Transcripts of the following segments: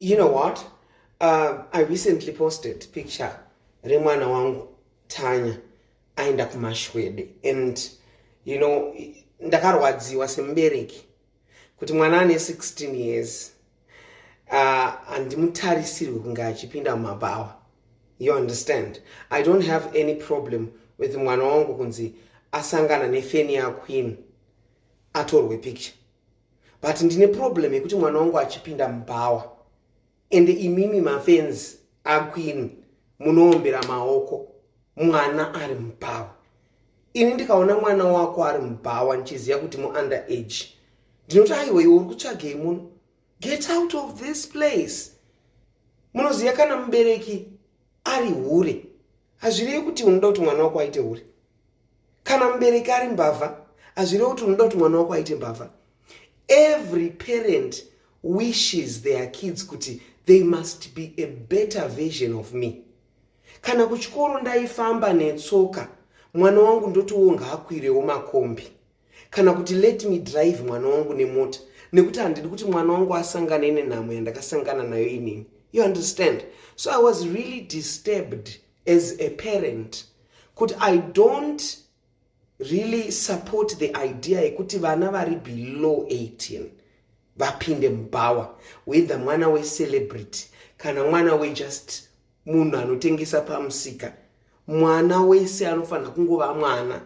You know what? Uh, I recently posted picture remwana wangu Tanya aenda kumashwede and you know ndakarwadziwa semubereki kuti mwana ane 16 years uh, handimutarisirwe uh, kunge achipinda mumabhawa you understand i don't have any problem with mwana wangu kunzi asangana nefeni yaqueen atorwe picture but ndine problem yekuti mwana wangu achipinda mubhawa and imimi mafenzi akwini munoombera maoko mwana ari mubhawa ini ndikaona mwana wako ari mubhawa ndichiziva kuti muunder age ndinoti aiwe iwe uri kutsvagei muno get out of this place munoziva kana mubereki ari hure hazvirevi kuti unoda kuti mwana wako aite hure kana mubereki ari mbavha hazvirevi kuti unoda kuti mwana wako aite mbavha every parent wishes their kids kuti they must be a better version of me kana kuchikoro ndaifamba netsoka mwana wangu ndotiwo ngaakwirewo makombi kana kuti let me drive mwana wangu nemota nekuti handidi kuti mwana wangu asangane nenhamo yandakasangana nayo inini you understand so i was really disturbed as a parent kuti i don't really support the idea yekuti vana vari below 18 vapinde mubhawa whether mwana wecelebrity kana mwana wejust munhu anotengesa pamusika mwana wese anofanira kungova mwana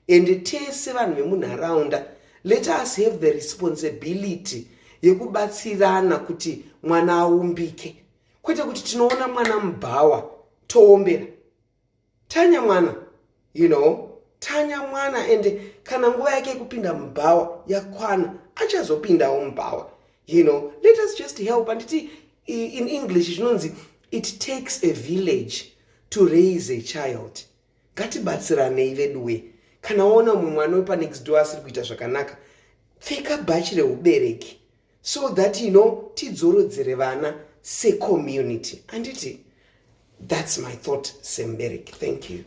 ende tese vanhu vemunharaunda let us have the responsibility yekubatsirana kuti mwana aumbike kwete kuti tinoona mwana mubhawa toombera Tanya mwana you know tanya mwana and kana nguva yake yekupinda mubhawa yakwana achazopindawo mubhawa you know let us just help anditi in english zvinonzi it takes a village to raise a child ngatibatsiranei veduwe kana waona mumwe mwana wepanext door asiri kuita zvakanaka pfeka bhachi reubereki so that you know tidzorodzere vana secommunity anditi that's my thought sembereki thank you